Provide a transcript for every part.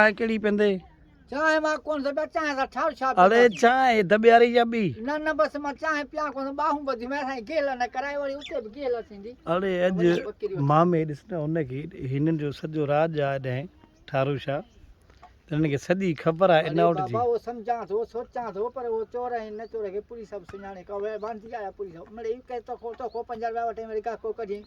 چانهه ڪهڙي پيندي؟ چانهه مان ڪونه ٿو پيان، چانهه سان ٺاهه ڇا پيو اڙي ڪرين؟ چانهه دٻياري يا ٻي؟ نه نه بس مان چانهه پيان ڪونه ٿو، ٻانهون ٻڌيون ويا سائين، گيل نه ڪرائي وڙي اتي به گيل ٿيندي. اڙي اڄ وڃي ٻڪريون ٿي. مامي ڏس نه ان کي، هنن جو سڄو راڄ آ اڏهين ٺارو شاهه، هنن کي سڄي خبر آ اڙي انائوٽ جي. بابا اهو سمجهان ٿو، سوچان ٿو پر اهو چور ۽ نه چور کي پوليس سڀ سڃاڻي، ڪا ويل باندي آ يا پوليس، مڙئي ڪنهن توکو توکو پنج رپيا وٺين وري گاهڪو ڪڍين.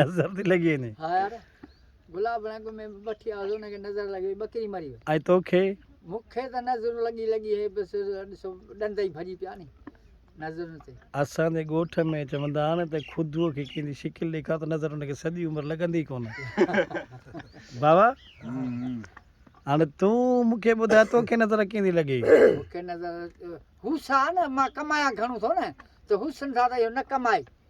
نظر ٿي لڳي وڃي ها يار گلاب رنگ ۾ بٺي آزو ان کي نظر لڳي ٻڪري مري وئي اي توکي مونکي ته نظر لڳي لڳي هي بس ڏسو ڏند ئي ڀڄي پيا ني نظر تي اسان جي ڳوٺ ۾ چوندا آهن ته خودو کي ڪنهن جي شڪل ڏيکار ته نظر ان کي سڄي عمر لڳندي ڪونه بابا هاڻي تون مونکي ٻڌاء توکي نظر ڪنهن جي لڳي مونکي نظر هو سا نه مان ڪمايا گهڻو ٿو نه ته حسن سان ته اهو نه ڪمائي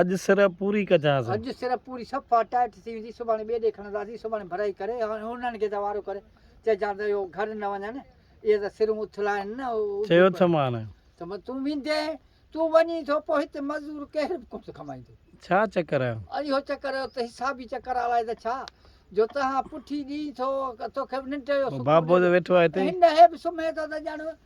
اڄ سر پوري ڪجانس. اڄ سر پوري صفا ٽائٽ ٿي ويندي سڀاڻي ٻئي ڏي کڻنداسين سڀاڻي ڀرائي ڪري هاڻي انهن کي ته وارو ڪري چئجان ته اهو گهر نه وڃن اهي ته سرون اٿل آهن نه چيو ٿم هاڻي. ته تون ويندين تون وڃين ٿو پوء هتي مزدور ڪير به ڪونه ڪمائيندو. ڇا چڪر آهي. اهو چڪر اهو ته حسابي چڪر آهي الائي ته ڇا جو تنهان پٺي ڏئين ٿو توکي به ننڊ جو سڪون ڏيندو. بابو جو ويٺو آهي هتي. هن هي به سمهي ٿو ته ڄڻ